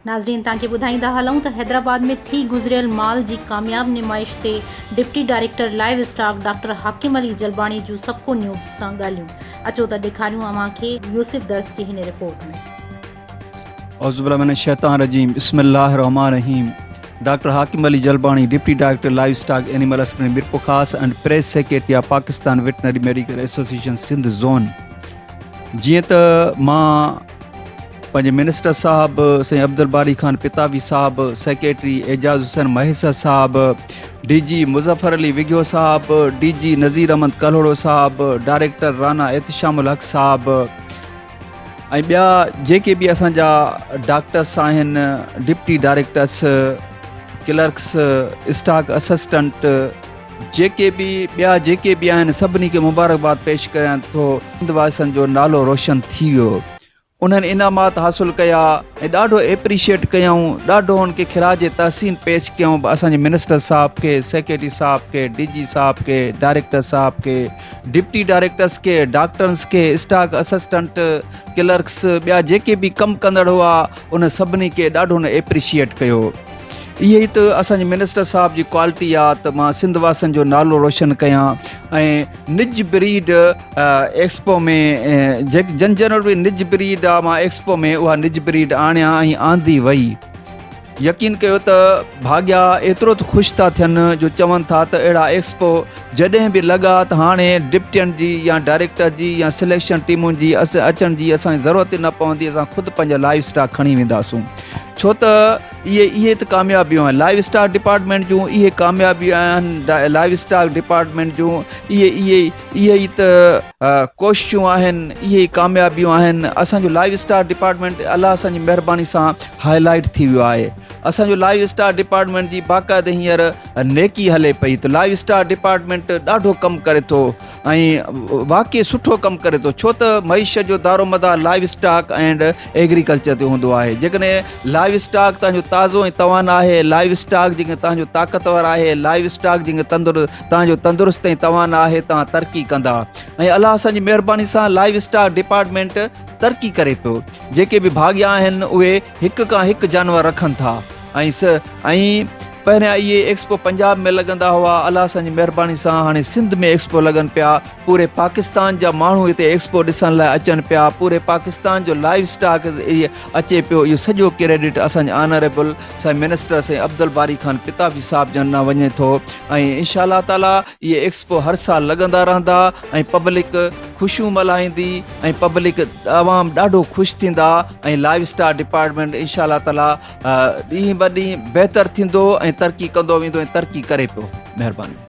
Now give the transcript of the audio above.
ناظرين توهان کي ٻڌائيندا هلون ته حيدرآباد ۾ ٿي گذريل مال جي ڪامياب نمائش تي deputy director livestock doctor Hakim Ali Jalbani جون سبڪو نيوز سان ڳالهيون اچو ته ڏيکاريون اوهان کي يوسف درس جي هن رپورٽ ۾ اعوذ بالله من الشيطان الرجيم بسم الله الرحمن الرحيم doctor Hakim Ali Jalbani deputy director livestock animal اسپرين Mirpurkhas and press secretary of Pakistan veterinary medical association Sindh zone جيئن ته مان پنهنجي منسٽر صاحب سائين عبدالباري خان پتاوي صاحب سيڪريٽري اعجاز حسين مهيسر صاحب ڊي جي مظفر علي وگيو صاحب ڊي جي نذير احمد ڪلهوڙو صاحب ڊائريڪٽر رانا احتشام الحق صاحب ۽ ٻيا جيڪي به اسان جا ڊاڪٽرس آهن deputy directors clerks stock assistant جيڪي به ٻيا جيڪي به آهن سڀني کي مبارڪباد پيش ڪريان ٿو سنڌ واسن جو نالو روشن ٿي ويو انهن انعامات حاصل ڪيا ۽ ڏاڍو اپريشيٽ ڪيائون ڏاڍو ان کي خراج تحسين پيش ڪيائون اسانجي منسٽر صاحب کي سيڪريٽري صاحب کي ڊي جي صاحب کي ڊائريڪٽر صاحب کي ڊپٽي ڊائريڪٽرس کي، ڊاڪٽرس کي، اسٽاڪ اسسٽنٽ، ڪلرڪس، ٻيا جيڪي به ڪم ڪندڙ هئا، انهن سڀني کي ڏاڍو نه ايپريشيئيٽ ڪيو. اهي ئي ته اسان جي منسٽر صاحب جي ڪوالٽي آ ته مان سنڌ واسين جو نالو روشن ڪيان ۽ نج بريڊ ايڪسپو ۾ جيڪي جن جنرل به نج بريڊ آ مان ايڪسپو ۾ اها نج بريڊ آڻيان ۽ آندي وئي. يقين ڪيو ته ڀاڳيا ايترو ته خوش ٿا ٿين جو چون ٿا ته اهڙا ايڪسپو جڏهن به لڳا ته هاڻي ڊپٽين جي يا ڊائريڪٽر جي يا سليڪشن ٽيمن جي اچڻ جي اسان کي ضرورت ئي نه پوندي اسان خود پنهنجا لائيو اسٽاڪ کڻي وينداسون ڇو ته اهي اهي ته ڪاميابيون آهن لائيو اسٽاڪ ڊپارٽمينٽ جون اهي ڪاميابيون آهن لائيو اسٽاڪ ڊپارٽمينٽ جون اهي اهي اهي ئي ته ڪوششون آهن اهي ئي ڪاميابيون آهن اسان جو لائيو اسٽار ڊپارٽمينٽ الله اسان جي مهرباني سان هاء لائيٽ ٿي ويو آهي اسان جو لائيو اسٽار ڊپارٽمينٽ جي باقاعده هينئر نيڪي هلي پئي ته لائيو اسٽار ڊپارٽمينٽ ڏاڍو ڪم ڪري ٿو ۽ واقعي سٺو ڪم ڪري ٿو ڇو ته معيشت جو دارومدار لائيو اسٽاڪ اينڊ ايگريڪلچر تي هوندو آهي جيڪڏهن لائيو اسٽاڪ تنهنجو تازو ۽ توان آهي لائيو اسٽاڪ جيڪڏهن تنهنجو طاقتور آهي لائيو اسٽاڪ جيڪڏهن تندر توهان جو تندرست ۽ توانا آهي توهان ترقي ڪندا ۽ الله اسان جي مهرباني سان لائيو اسٽاڪ ڊپارٽمينٽ ترقي ڪري پيو جيڪي به ڀاڳيا آهن اهي هڪ کان هڪ جانور رکن ٿا ۽ پهريان اهي ايڪسپو پنجاب ۾ لڳندا هئا الله سان جي مهرباني سان هاڻي سنڌ ۾ ايڪسپو لڳن پيا پوري پاڪستان جا ماڻهو هتي ايڪسپو ڏسڻ لاء اچن پيا پوري پاڪستان جو لائيو اسٽاڪ اچي پيو اهو سڄو ڪريڊٽ اسان جي آنريبل سائين منسٽر سائين عبدالباري خان ڪتابي صاحب جن ڏانهن وڃي ٿو ۽ انشاء الله تعالي اهي ايڪسپو هر سال لڳندا رهندا ۽ پبلڪ خوشيون ملهائيندي ۽ پبلڪ عوام ڏاڍو خوش ٿيندا ۽ لائف اسٽار ڊپارٽمنٽ انشاء الله تعالي ڏينهن ٻه ڏينهن بهتر ٿيندو ۽ ترقي ڪندو ويندو ۽ ترقي ڪري پيو مهرباني